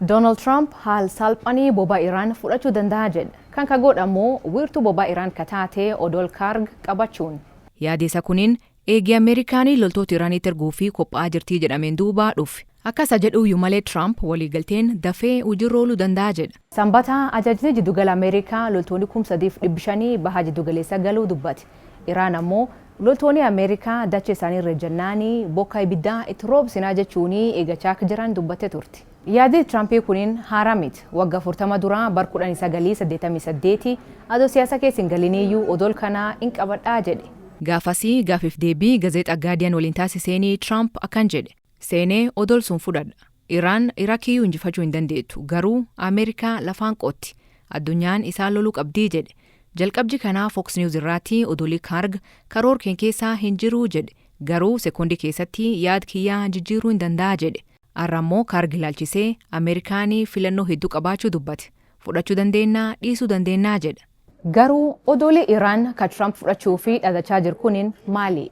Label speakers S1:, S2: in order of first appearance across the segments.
S1: Donald Trump haal saalphani boba Iran fudhachu dandaha jedh. Kan ka goodh ammo wiirtu boba Iran ka taate odol Karg qabachuun. Yaadi isa kunin
S2: eegi Amerikani loltoota Iranitti erguufi qopha'aa jirtii jedhameen duuba dhufe. Akka isa jedhuuyyu malee Trump waliigalteen dafee hujirra oolu dandaha jedha. Sambata ajajni
S1: jiddugala Amerikaa loltooni kum sadiif dhibbi shanii baha jiddugaleessa galuu dubbate. Iran ammo. Loltooni Ameerikaa dacha isaanii irra ejjannaani bokkaa ibiddaa itti roobsinaa jechuuni eegachaa akka jiran dubbatte turte. Yaadi Tiraampi kunin haaraa miti. Wagga afurtama dura bar kudhanii sagalii saddeettamii saddeeti adoo siyaasa keessa hin galiniiyyu odol kana hin qabadha jedhe. Gaafasi gaafif
S2: deebii gazeexa Gaardiyan waliin taasiseeni Tiraamp akkan jedhe. seenee odol sun fudhadha. Iraan Irakiyyuu injifachuu hin dandeettu garuu Amerikaa lafaan qotti. Addunyaan isaan loluu qabdii jedhe. Jalqabji kanaa Fox News irraatti odolii Karg karoor keen keessaa hin jiruu jedhe. Garuu sekondi keessatti yaad kiyyaa jijjiiruu hin danda'a jedhe. Arra ammoo Karg ilaalchisee Amerikaani filannoo hedduu qabaachuu dubbate. Fudhachuu dandeennaa dhiisuu dandeennaa jedha. Garuu
S1: odoli Iraan ka Trump fudhachuu ufii dhadachaa jir kunin maalii?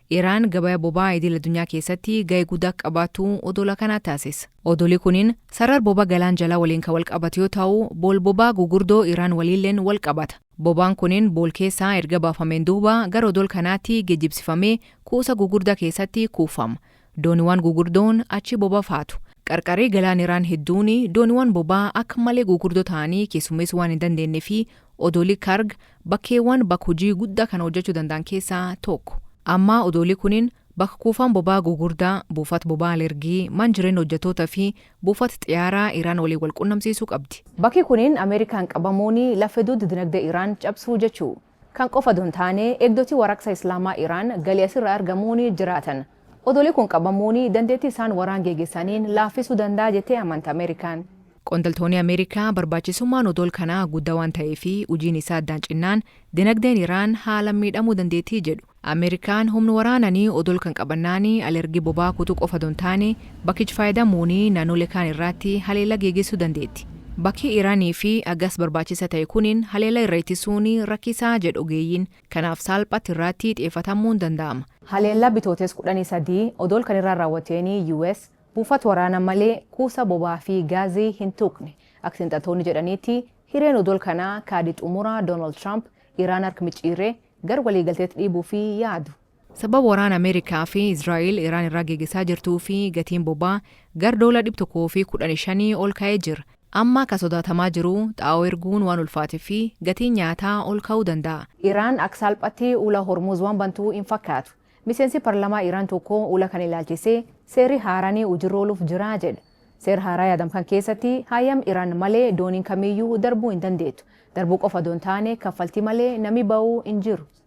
S2: Iraan gabaya bobaa idil adunyaa keessatti gahe guda qabatu odola kana taasis. Odoli kunin sarar boba galaan jala waliin ka walqabatu yoo tau bool bobaa gugurdo Iraan waliillen wal qabata. Bobaan kunin bool keessaa erga baafameen duuba gara odol kanaati gejibsifamee kuusa gugurda keessatti kuufama. Dooniwan gugurdoon achi boba faatu. Qarqari galaan Iraan hedduuni dooniwan bobaa akka malee gugurdo taanii keessummeesu waan hin dandeenne fi odoli Karg Bakkeewwan bakka hojii guddaa kana hojjachuu danda'an keessaa tokko. Ammaa odoolii kuniin bakka kuufaan boba'aa gugurdaa, buufat boba'aa Lergii, man jireenna hojjattoota fi buufat xiyaaraa Iraan waliin wal qunnamsiisuu qabdi. Bakki kuniin Amerikaan
S1: qabamuuni laffe dudda dinagdee Iraan cabsuu jechuu. Kan qofa odo hin taane eegdotii waraqsa Islaamaa Iraan galii asirraa argamuuni jiraatan. Odoli kun qabamuun dandeettii isaan waraan geegesaniin laaffisuu danda'a jettee amanta Amerikaan. Qondaltooni
S2: Amerikaa barbaachisummaan odol kanaa gudda waan ta'eefi hujiin isaa addaan cinnaan dinagdeen Iraan haalan miidhamuu dandeettii jedhu. Amerikaan humn waraanani odol kan qabannaani alergii bobaa kutu qofa don taane bakkich faayadamuuni nanole kaan irraatti haleella geegessuu dandeetti. Bakkii Iraniifi agas barbaachisa ta'e kunin haleella irra ittisuuni rakkisaa jedh ogeeyyiin. Kanaaf saalphatti irraatti xiyefatammuun danda'ama. Haleellaa Bitootees
S1: 13 odool kan irraa raawwateeni US buufat waraana malee kuusa bobaa fi gaazii hin tuqne. Ak xiinxaltoonni jedhaniitti hireen odool kanaa kaadi xumura Donald Trump Iraan hark micciirree gar waliigalteet dhiibuufi yaadu. Sababa waraana
S2: Ameerikaa fi Israa'el Iraan irraa geegesaa jirtuu fi gatiin bobaa gar doola 115 ol ka'ee jir. Amma ka sodaatamaa jiruu xaa'oo erguun waan ulfaate fi gatiin nyaataa ol ka'uu danda'a. Iraan ak saalphatti
S1: ula Hormuuz waan bantuu hin fakkaatu. Miseensi parlamaa Iraan tokko ula kan ilaalchisee seerri haarani ujirra oluf jiraa jedha. Seer haaraa yaadam kan keessatti haayam Iraan malee dooniin kamiiyyuu darbuu hin dandeettu. Darbuu qofa odoo hin taane kaffaltii malee nami ba'uu hin jiru.